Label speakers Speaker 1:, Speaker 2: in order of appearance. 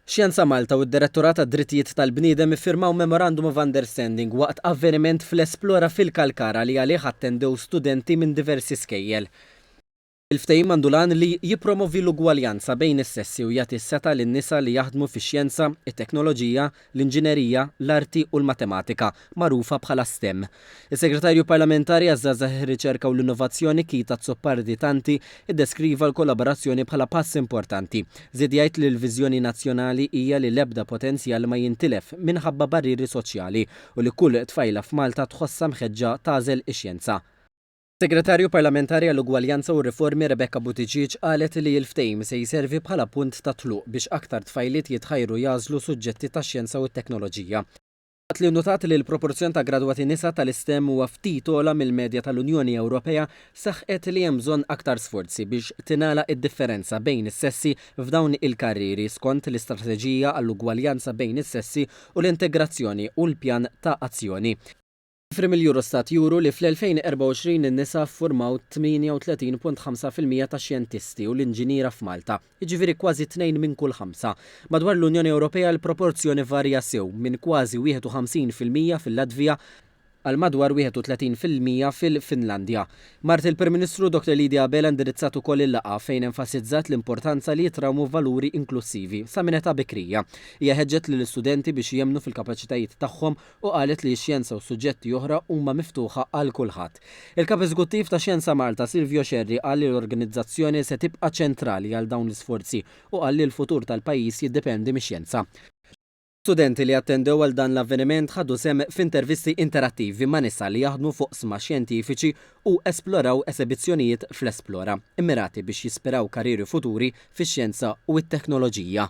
Speaker 1: Xjenza Malta u d-Direttorat għad-Drittijiet tal-Bniedem iffirmaw Memorandum of Understanding waqt avveniment fl-Esplora fil-Kalkara li għalih attendew studenti minn diversi skejjel. Il-ftehim għandu l-għan li jippromovi l-ugwaljanza bejn is-sessi u jagħti s-setgħa lin-nisa li jaħdmu fix-xjenza, it-teknoloġija, l-Inġinerija, l-Arti u l-Matematika, magħrufa bħala stem. Is-Segretarju Parlamentari għaż-Żgħażagħ, ir-Riċerka u l-Innovazzjoni, Keith Azzopardi Tanti, iddeskriva l-kollaborazzjoni bħala pass importanti. Żied jgħid li l-viżjoni nazzjonali hija li l-ebda potenzjal ma jintilef minħabba barrieri soċjali u li kull tfajla f'Malta tħossha mħeġġa tagħżel ix-xjenza. Segretarju Parlamentari għall-Ugwaljanza u r-Riformi Rebecca Buttigieg qalet li l-ftehim se jservi bħala punt ta' tluq biex aktar tfajliet jitħajru jagħżlu suġġetti tax-xjenza u t-teknoloġija, waqt li nnutat li l-proporzjon ta' gradwati nisa tal-istem huwa ftit ogħla mill-medja tal-Unjoni Ewropea, saħqet li hemm bżonn aktar sforzi biex tingħalaq id-differenza bejn is-sessi f'dawn il-karrieri skont l-Istrateġija għall-Ugwaljanza bejn is-Sessi u l-Integrazzjoni u l-Pjan ta' Azzjoni Ċifri mill-Eurostat juru li fl-2024 in-nisa ffurmaw 38.5 fil-mija tax-xjentisti u l-inġiniera f'Malta, jiġifieri kważi tnejn minn kull ħamsa. Madwar l-Unjoni Ewropea l-proporzjon ivarja sew, minn kważi 51 fil-mija fil-Latvija għal madwar 31 fil-mija fil-Finlandja. Mart il-Prim Ministru, Dr. Lydia Abela indirizzat ukoll il-laqgħa, fejn enfasizzat l-importanza li jitrawmu valuri inklussivi sa minn età bikrija. Hija ħeġġet lill-istudenti biex jemmnu fil-kapaċitajiet tagħhom u qalet li x-xjenza u suġġetti oħra huma miftuħa għal kulħadd. Il-Kap Eżekuttiv ta' Xjenza Malta, Silvio Scerri qal li l-organizzazzjoni se tibqa' ċentrali għal dawn l-isforzi u qal li l-futur tal-pajjiż jiddependi mix-xjenza. Studenti li attendew għal dan l-avveniment ħadu sehem f'intervisti interattivi ma' nisa li jaħdmu f'oqsma xjentifiċi u esploraw esebizzjonijiet fl-Esplora, immirati biex jispiraw karrieri futuri fix-xjenza u t-teknoloġija.